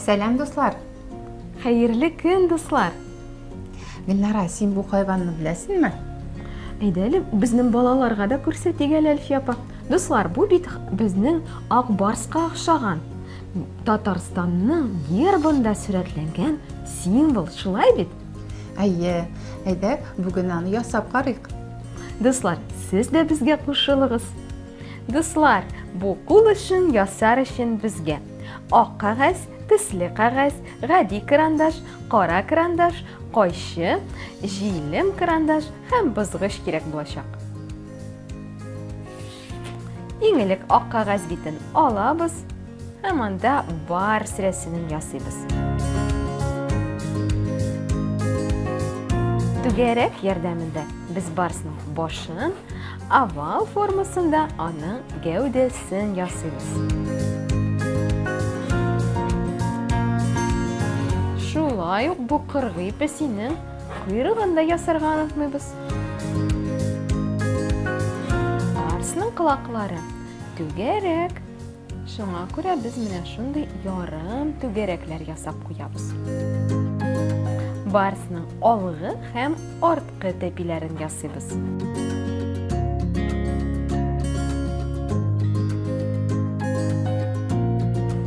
Сәлам, дуслар! Хәерле көн, дуслар! Гөлнара, син бу хайванны беләсеңме? Әйдә әле, безнең балаларга да күрсәтик әле, Әлфия апа. Дуслар, бу бит безнең ак барска охшаган. Татарстанның гербында сурәтләнгән символ, шулай бит? Әйе, әйдә, бүген аны ясап карыйк. Дуслар, сез дә безгә кушылыгыз. Дуслар, бу кул эшен ясар өчен безгә ак кагаз, төсле кагаз, гади карандаш, кара карандаш, кайчы, җилем карандаш һәм бызгыч кирәк булачак. Иң элек ак кагаз битен алабыз һәм анда бар сирәсенен ясыйбыз. Түгәрәк ярдәмендә без барсның башын, овал формасында аның гәүдәсен ясыйбыз. Шулай ук бу кыргый песинең койрыгын да ясарга онытмыйбыз. Барсның колаклары түгәрәк. Шуңа күрә без менә шундый ярым түгәрәкләр ясап куябыз. Барсның алгы һәм арткы тәпиләрен ясыйбыз.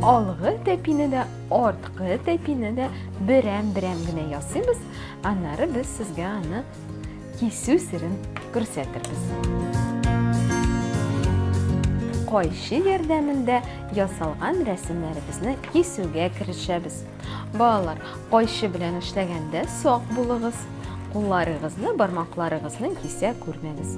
Алгы тәпине дә, арткы тәпине дә берәм-берәм генә ясыйбыз Аннары без сезгә аны кисү серен күрсәтербез. Кайчы ярдәмендә ясалган рәсемнәребезне кисүгә керешәбез. Балалар, кайчы белән эшләгәндә сак булыгыз. Кулларыгызны бармакларыгызны кисә күрмәгез.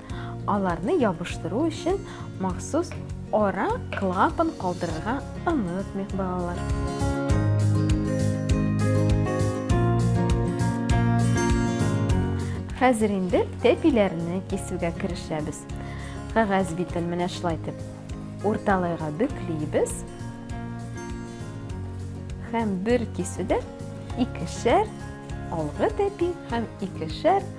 Аларны ябыштыру өчен махсус ара клапан калдырырга онытмыйк, балалар. Хәзер инде тәпиләрне кисүгә керешәбез. Кәгазь битен менә шулай итеп урталайга бөклибез. Һәм бер кисүдә икешәр алгы тәпи һәм икешәр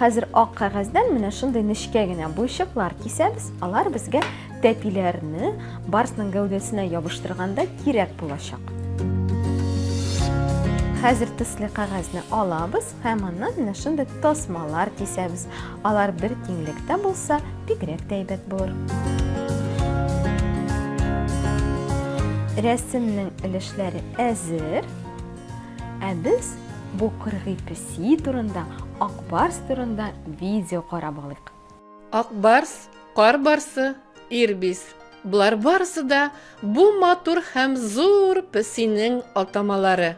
Хәзер ак кәгазьдән менә шундый нечкә генә буйчыклар кисәбез, алар безгә тәпиләрне барсның гәүдәсенә ябыштырганда кирәк булачак. Хәзер төсле кәгазьне алабыз һәм аннан менә шундый тасмалар кисәбез. Алар бер киңлектә булса, бигрәк тә әйбәт булыр. Рәсемнең өлешләре әзер. Ә без бу кыргый песи турында, ак барс турында видео карап алыйк. Ак барс, кар барсы, ирбис. Болар барысы да бу матур һәм зур песинең атамалары.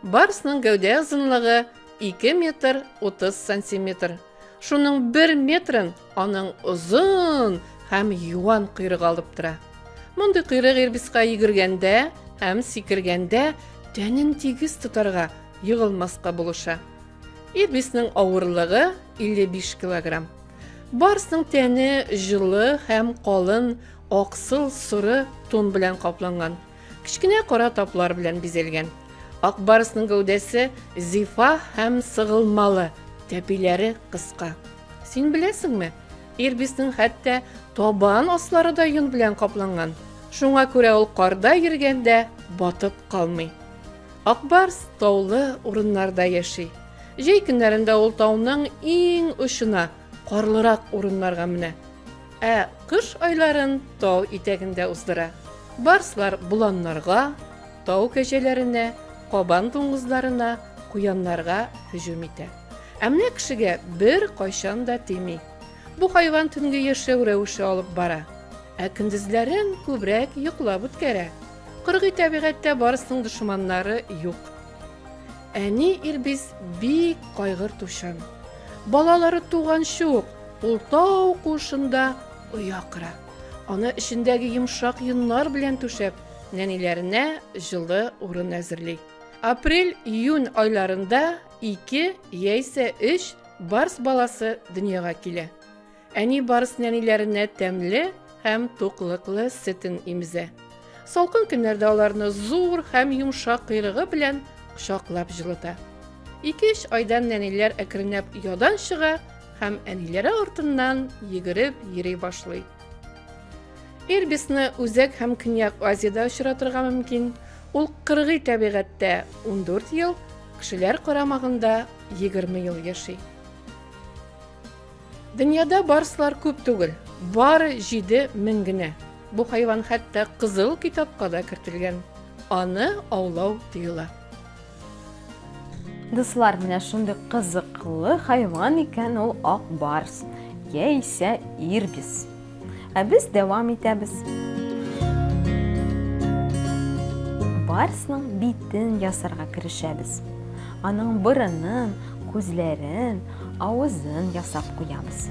Барсның гәүдә озынлыгы 2 метр 30 сантиметр. Шуның бер метрын аның озын һәм юан койрыгы алып тора. Мондый койрык ирбиска йөгергәндә һәм сикергәндә тәнен тигез тотарга, егылмаска булыша. Ирбиснең авырлыгы 55 килограмм. Барсның тәне җылы һәм калын аксыл соры тон белән капланган. Кечкенә кара таплар белән бизәлгән. Акбарысның гәүдәсе зифа һәм сыгылмалы, тәпиләре кыска. Син беләсеңме, ирбиснең хәтта табан аслары да йон белән капланган. Шуңа күрә ул карда йөргәндә батып калмый. Акбарс таулы урыннарда яши. Җәй көннәрендә ул тауның иң очына, карлырак урыннарга менә. Ә кыш айларын тау итәгендә уздыра. Барслар боланнарга, тау кәҗәләренә, кабан дуңгызларына, куяннарга һөҗүм итә. Ә менә кешегә беркайчан да тими. Бу хайван төнге яшәү рәвеше алып бара. Ә көндезләрен күбрәк йоклап үткәрә. Кыргый табигатьтә барсның дошманнары юк. Әни Ирбис бик кайгыртучан. Балалары туганчы ук ул тау куышында оя кыра. Аны эчендәге йомшак йоннар белән түшәп, нәниләренә җылы урын әзерли. Апрель-июнь айларында ике яисә өч барс баласы дөньяга килә. Әни барс нәниләренә тәмле һәм туклыклы сөтен имзә. Салкын көннәрдә аларны зур һәм йомшак койрыгы белән кочаклап җылыта. Ике-өч айдан нәниләр әкренләп ядан чыга һәм әниләре артыннан йөгереп йөри башлый. Ирбисны Үзәк һәм Көньяк Азиядә очратырга мөмкин. Ул кыргый табигатьтә 14 ел, кешеләр карамагында 20 ел яши. Дөньяда барслар күп түгел, бары җиде мең генә. Бу хайван хәтта кызыл китапка да кертелгән. Аны аулау тыела. Дуслар, менә шундый кызыклы хайван икән ул ак барс яисә ирбис. Ә без дәвам итәбез. Барсның битен ясарга керешәбез. Аның борынын, күзләрен, авызын ясап куябыз.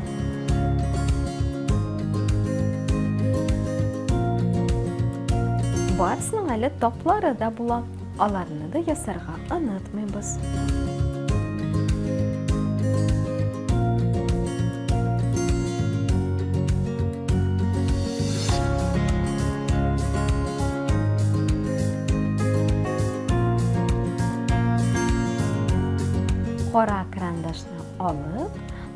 Барсның әле таплары да була. Аларны да ясарга онытмыйбыз. Кара крандашны алып,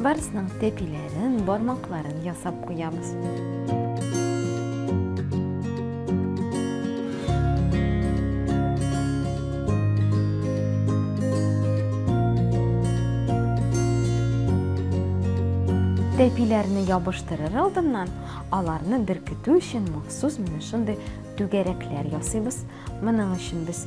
Барысының тәпиләрен, бармакларын ясап куябыз. Тәпиләрне ябыштырыр алдыннан, аларны беркетү өчен махсус менә шундый түгәрәкләр ясыйбыз. Моның өчен без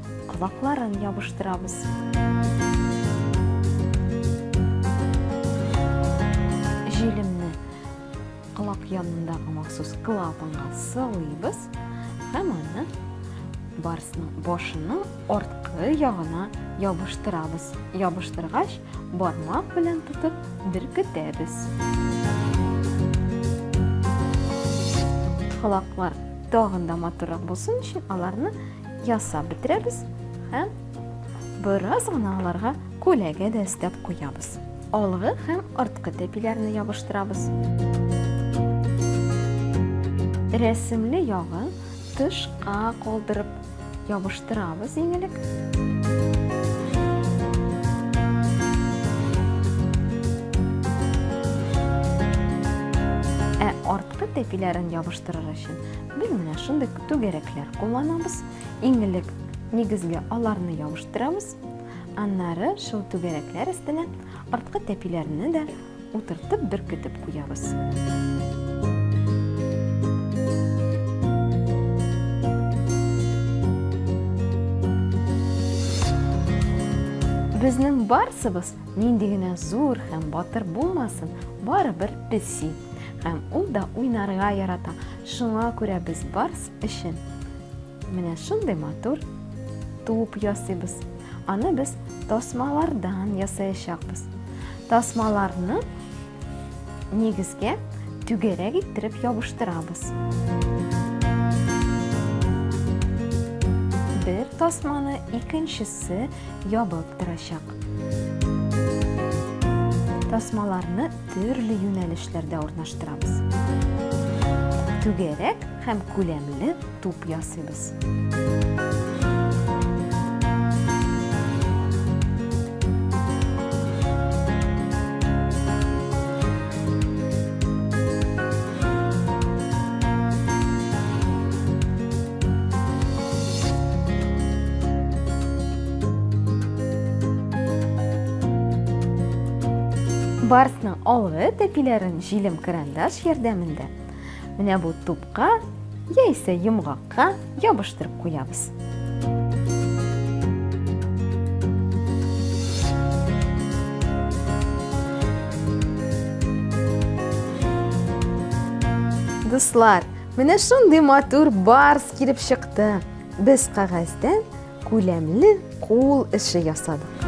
колакларын ябыштырабыз. Җилемне колак янындагы махсус клапанга сылыйбыз һәм аны барсның башының арткы ягына ябыштырабыз. Ябыштыргач, бармак белән тотып беркетәбез. Колаклар тагын да матуррак булсын өчен аларны ясап бетерәбез һәм бераз гына аларга күләгә дә өстәп куябыз алгы һәм арткы тәпиләрне ябыштырабыз рәсемле ягын тышка калдырып ябыштырабыз иң элек ә арткы тәпиләрен ябыштырыр өчен без менә шундый Түгәрәкләр кулланабыз. Иң элек нигезгә аларны ябыштырабыз. Аннары шул түгәрәкләр өстенә арткы тәпиләрне дә утыртып беркетеп куябыз. Безнең барсыбыз нинди генә зур һәм батыр булмасын, барыбер песи. Һәм ул да уйнарга ярата. Шуңа күрә без барс өчен менә шундый матур туп ясыйбыз. Аны без тасмалардан ясаячакбыз. Тасмаларны нигезгә түгәрәк иттереп ябыштырабыз. Бер тасманы икенчесе ябып торачак. Тасмаларны төрле юнәлешләрдә урнаштырабыз. Түгәрәк һәм күләмле туп ясыйбыз. Барсның алгы тәпиләрен җилем крандаш ярдәмендә менә бу тупка яисә йомгак Ка ябыштырып куябыз. Дуслар, менә шундый матур барс килеп чыкты. Без кагазьдән күләмле кул эше ясадык.